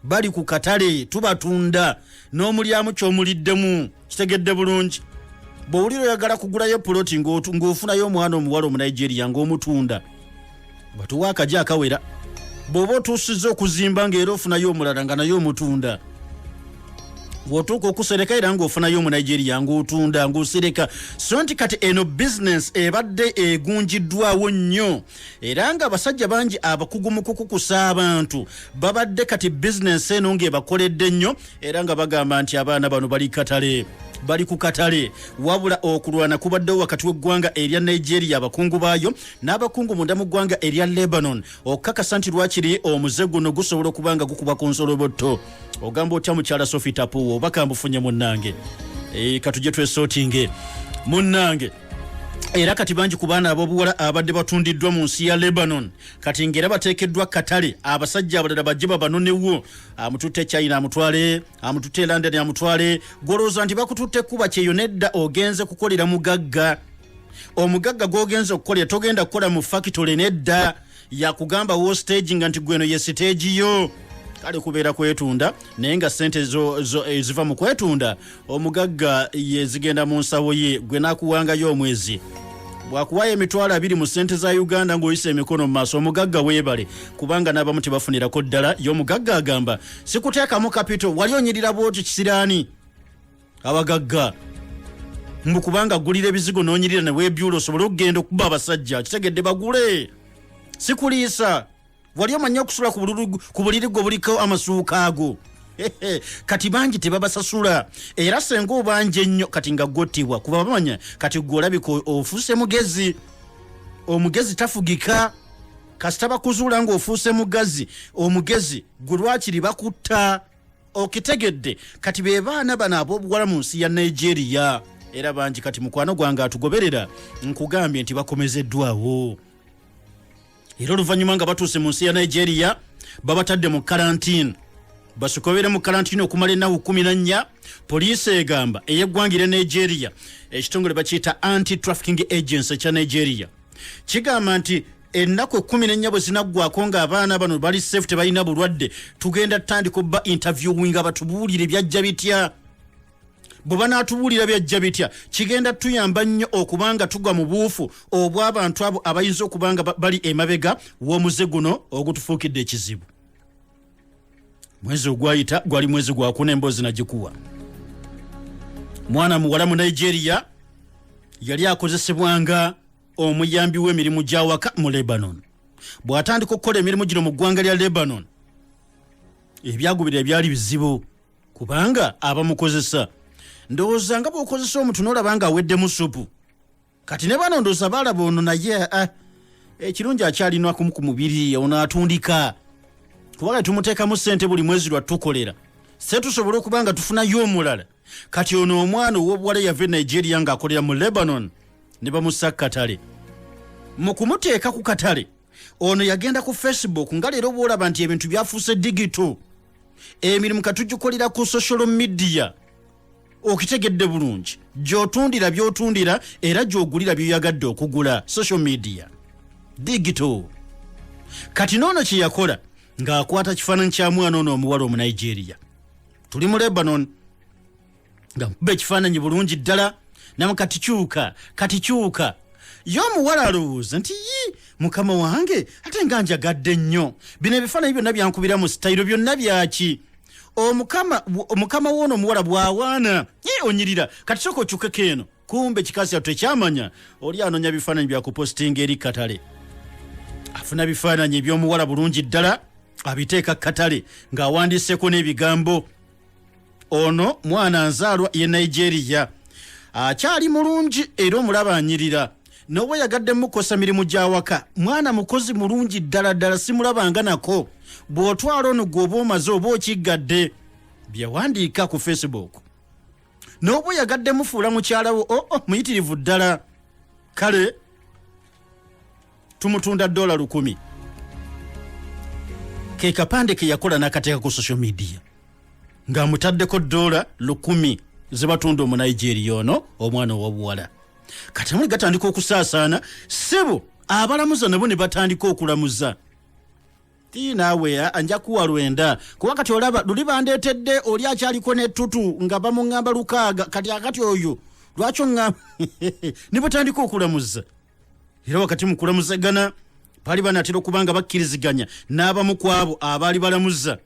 bali ku katale tubatunda n'omulyamu kyomuliddemu kitegedde bulungi bwowulira oyagala kugulayo puloti ng'ofunayo omwana omuwala omunigeria ng'omutunda batuwa akaji akawera bw'oba otuusiza okuzimba ng'era ofunayo omulala nga naye omutunda wotuuka okusereka era ngaofunayo omunigeria ngaotunda ngaosereka so nti kati eno bizinensi ebadde egunjiddwawo nnyo era nga abasajja bangi abakugu mu kukukusa abantu babadde kati bizinensi eno ng'ebakoledde nnyo era nga bagamba nti abaana bano bali katale bali ku katale wabula okulwana kubaddewo wakati w'eggwanga erya nigeria abakungu baayo n'abakungu munda mu ggwanga erya lebanon okukakasa nti lwakiri omuze guno gusobola okuba nga gukuba ku nsolobotto ogamba otya mukyala sofi tapuwo obakambufunye munnange e, katujje twesotinge munnange era kati bangi ku baana ab'obuwala abadde batundiddwa mu nsi ya lebanon kati ngaera bateekeddwa katale abasajja abalala bajje babanonewo amututte china amutwale amututte london amutwale gwolowooza nti bakututte kuba kyeyo nedda ogenze kukolera mugagga omugagga gwogenze okukolera togenda kukola mu fakitole nedda yakugamba wo stage nga nti gweno ye stage yo kale kubeera kwetunda naye nga sente eziva eh, mu kwetunda omugagga yezigenda mu nsawo ye gwe nakuwangayo omwezi bwakuwayo emitwalo abiri mu sente za uganda ngaoyisa emikono mu maaso omugagga weebale kubanga n'abamu tebafunirako ddala ye omugagga agamba sikuteekamu kapito wali onyirira bwoti kisiraani abagagga mbu kubanga gulira ebizigo nonyirira newebyula osobole okugenda okuba abasajja kitegedde bagule sikuliisa wali omanyi okusula ku buliri gwe buliko amasuuka ago kati bangi tebabasasula era senga obanja ennyo kati nga gotibwa kuba bamanya kati gwe olabika ofuuse mugezi omugezi tafugika kasita bakuzuula ngaofuuse mugazi omugezi gwe lwakiri bakutta okitegedde kati be baana bano ab'obuwala mu nsi ya nigeria era bangi kati mukwano gwange atugoberera nkugambye nti bakomezeddwawo era oluvannyuma nga batuuse mu nsi ya nigeria babatadde mu karantine basikobere mu karantine okumala ennaku kumi na nnya poliisi egamba ey'eggwangira nigeria ekitongole bakiyita anti trafficking agency ekya nigeria kigamba nti ennaku ekumi nenya bwe zinaggwako ng'abaana bano bali safe tebalina bulwadde tugenda tutandika obba interviewinga batubuulire byajja bitya bwe banaatubuulira byajja bitya kigenda tuyamba nnyo okuba nga tugwa mu buufu obw'abantu abo abayinza okuba nga bali emabega w'omuze guno ogutufuukidde ekizibu mwezi ogwayita gwali mwezi gwakuna emboozi nagikuwa mwana muwala mu nigeria yali akozesebwanga omuyambi w'emirimu gy'awaka mu lebanon bw'atandika okukola emirimu gino mu ggwanga lya lebanon ebyagubira ebyali bizibu kubanga abamukozesa ndowooza nga bw'okozesa omuntu n'olaba nga aweddemu supu kati ne bano ndowooza baalaba ono naye ah, ekirungi akyalinakumu ku mubiri ono atundika kubanga tumuteekamu ssente buli mwezi lwa tukolera se tusobole okuba nga tufunayo omulala kati ono omwana ow'obuwala yava e nigeria ng'akolera mu lebanon ne bamussa katale mu kumuteeka ku katale ono yagenda ku facebook nga leero bwolaba nti ebintu byafuuse digito emirimu katugikolera ku social media okitegedde bulungi gyotundira byotundira era gyogulira byoyagadde okugula social media digito kati noono kyeyakola ng'akwata kifaananyi kya mwana ono omuwala omunigeria tuli mu lebanon nga nkuba ekifaananyi bulungi ddala namu kati kyuka kati kyuka ye omuwala alowooza nti yi mukama wange ate nga njagadde nnyo bino ebifaananyi byonna byankubira mu sitayiro byonna byaki omukama woono omuwala bwawaana ye onyirira kati soka okyukeko eno kumbe kikazi kyattu tekyamanya oli anonya bifaananyi byakupositinga eri katale afuna bifaananyi ebyomuwala bulungi ddala abiteeka katale ng'awandiiseko n'ebigambo ono mwana nzaalwa ye nigeria akyali mulungi era omulaba anyirira noba yagadde mukosa mirimu gyawaka mwana mukozi mulungi ddala ddala simulabanga nako bw'otwala ono gwe oba omaze oba okiggadde byewandiika ku facebook n'oba oyagadde mufuula mukyala wo oo oh, oh, muyitirivu ddala kale tumutunda dola lukumi ke kapande ke yakola n'akateeka ku social media ng'amutaddeko dola lukumi zebatunda omunigeria ono omwana owabuwala kati amuli gatandika okusaasaana sebo abalamuza nabo ne batandika okulamuza ti naawe eh, anja kuwa lwenda kuba kati olaba luli bandeetedde oli akyaliko n'ettutu nga bamuŋŋamba lukaaga kati akati oyo lwaki oŋŋamba ne batandika okulamuza era wakati mu kulamuzagana baali banaatera okuba nga bakkiriziganya n'abamu ku abo abaali balamuza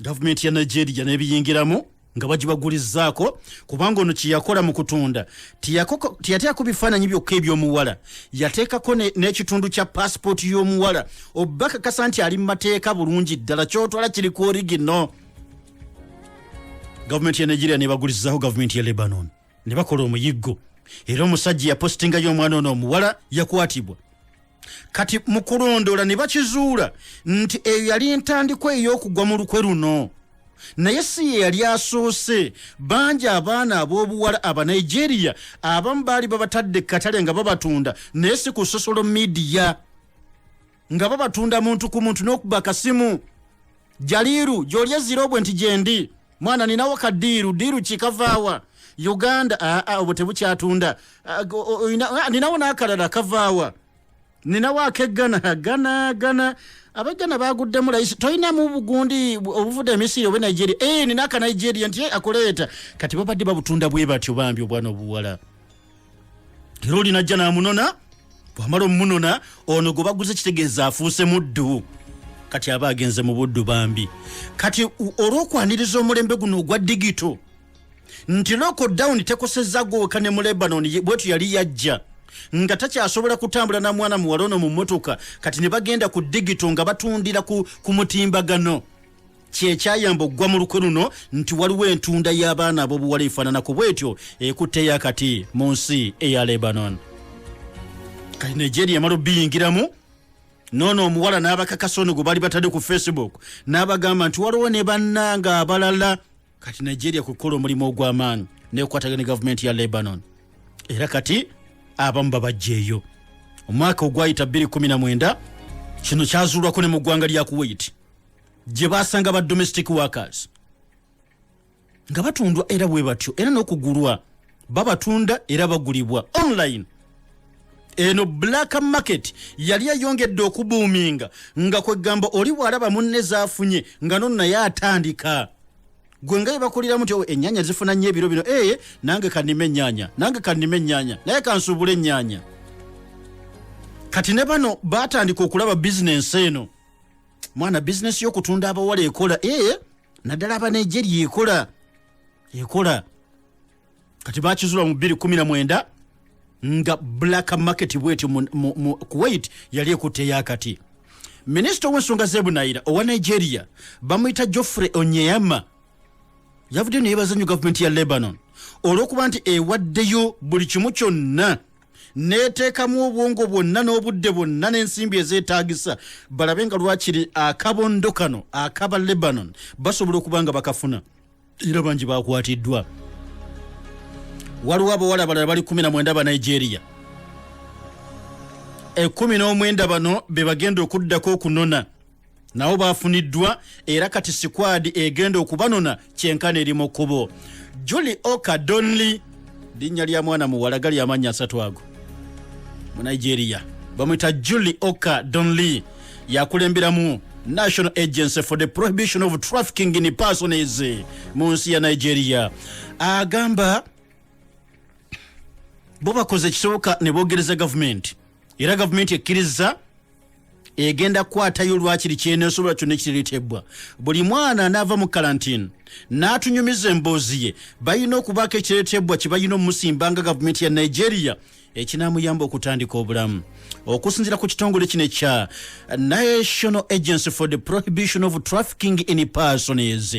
gavumenti ya nigeria n'ebiyingiramu nga bagibagulizzaako kubanga ono kyeyakola mu kutunda teyateekako bifaananyi byokka ebyomuwala yateekako n'ekitundu kya paasipooti y'omuwala oba kakasa nti ali mu mateeka bulungi ddala kyotwala kiri ku origino gavumenti ya nigeria nebagulizzaako gavumenti ya lebanon ne bakola omuyiggo era omusajja yapositingayo omwana ono omuwala yakwatibwa kati mu kulondoola ne bakizuula nti eyo yali ntandikwa ey'okugwa mu lukwe luno naye si ye yali asoose bangi abaana ab'obuwala abanigeria abamu baali babatadde katale nga babatunda naye si ku sosolo midiya nga babatunda muntu ku muntu n'okuba akasimu jaliiru gy'oli ezira obwe nti gyendi mwana ninawo ka diiru diiru kikavaawa uganda aa ah, ah, obwo tebukyatunda ah, ninawo n'akalala kavaawa ninawo akeggana gana gana abajjana baguddemu layisi tolinamu bugundi obuvudde emisiri oba nigeria e eh, nina aka nigeria nti eh, akuleeta kati babadde babutunda bwe batyo bambi obwana obuwala era oli najja n'amunona bwamala omumunona ono gwe baguze kitegeeza afuuse muddu kati aba agenze mu buddu bambi kati olw'okwaniriza omulembe guno ogwa digito nti loko down tekosezza gweweka ne mu lebanon bwetu yali yajja nga takyasobola kutambula na mwana muwala ono mu mmotoka kati ne bagenda ku digito nga batundira ku, ku mutimbagano kyekyayamba okugwa mu lukwe luno nti waliwo entunda y'abaana ab'obuwala efaananako bwetyo ekutteyo akati mu nsi eya lebanon kati nigeria emala obiyingiramu noono omuwala n'abakakasa ono gwe bali batadde ku facebook n'abagamba nti waliwo ne bannanga abalala kati nigeria kwe kukola omulimu ogw'amaanyi nekwataga ne gavumenti ya lebanon era kati abamu babajjeeyo omwaka ogwayita 219 kino kyazuulwako ne mu ggwanga lya kuwaiti gye baasanga ba domestic workers nga batundwa era bwe batyo era n'okugulwa babatunda era bagulibwa online eno black market yali eyongedde okubuuminga nga kwegamba oli bwalaba munne zafunye nga nono naye atandika gwe nga yebakuliramu ti enyanya zifuna nnyo ebiro bino eye eh, nange kanima enyanya nange kanima enyanya naye kansuubula enyanya kati ne bano batandika okulaba bizinensi eno mwana bizinesi y'okutunda abawala ekola ee eh, naddala abanegeria ekola ekola kati bakizula mu 219 nga black market bwetyo kuwait yali ekutteyakati minisita ow'ensonga z'ebunayira owa nigeria bamuyita joffrey onyeyama yavuddeyo neyebaza nnyo gavumenti ya lebanon olw'okuba nti ewaddeyo buli kimu kyonna neteekamu obwongo bwonna n'obudde bwonna n'ensimbi ezeetaagisa balabe nga lwakiri akabondo kano akaba lebanon basobola okuba nga bakafuna era bangi bakwatiddwa waliwo abawala abalala bali 19 ba nigeria ekumi n'omwenda bano be bagenda okuddako okunona nabo baafuniddwa era kati sikwadi egenda okubanona kyenkana eri mu kkubo juli oka donly linnya lya mwana muwala gali amannya asatu ago mu nigeria bamwita juli oka donly yakulemberamu national agency for the prohibition of trafficking in persones mu nsi ya nigeria agamba bo bakoze ekisoboka ne bogereza gavumenti era gavumenti ekkirizza egenda kukwatayo lwakiri kyenesobola kyonna ekiriretebbwa buli mwana anaava mu kalantini n'atunyumiza emboozi ye balina okubaako ekiretebbwa kye balina omusimba nga gavumenti ya nigeria ekinaamuyamba okutandika obulamu okusinzira ku kitongole kino ekya national agency for the prohibition of trafficking in persons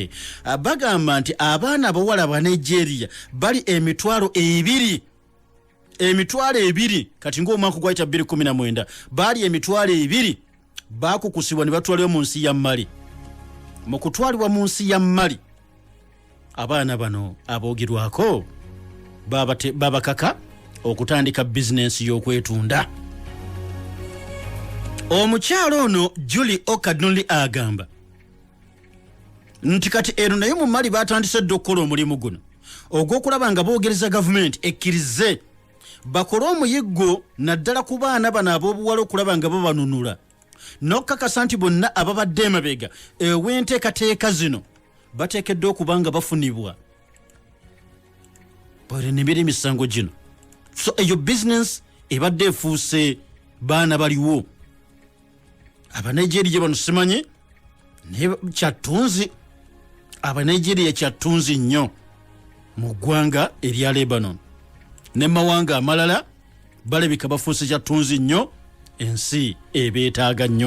bagamba nti abaana abawala ba nigeria bali emitwalo ebiri emitwalo ebiri kati ngaomwaka gwayita 219 baali emitwalo ebiri bakukusibwa ne batwaliwo mu nsi ya mali mu kutwalibwa mu nsi ya mali abaana bano aboogerwako babakaka okutandika bizinensi y'okwetunda omukyalo ono juli okadnli agamba nti kati eno naye mu mali batandise dda okukola omulimu guno ogw'okulaba nga boogereza gavumenti ekkirize bakole omuyiggo naddala ku baana bano ab'obuwala okulaba nga babanunula n'okukakasa nti bonna ababadde emabega ew'enteekateeka zino bateekeddwa okuba nga bafunibwa bwerenebera emisango gino so eyo bizinesi ebadde efuuse baana baliwo abanigeria bano simanyi naye kyattunzi abanigeria kyattunzi nnyo mu ggwanga erya lebanon ne mawanga amalala balabika bafuuse kyattunzi nnyo ensi ebeetaaga nnyo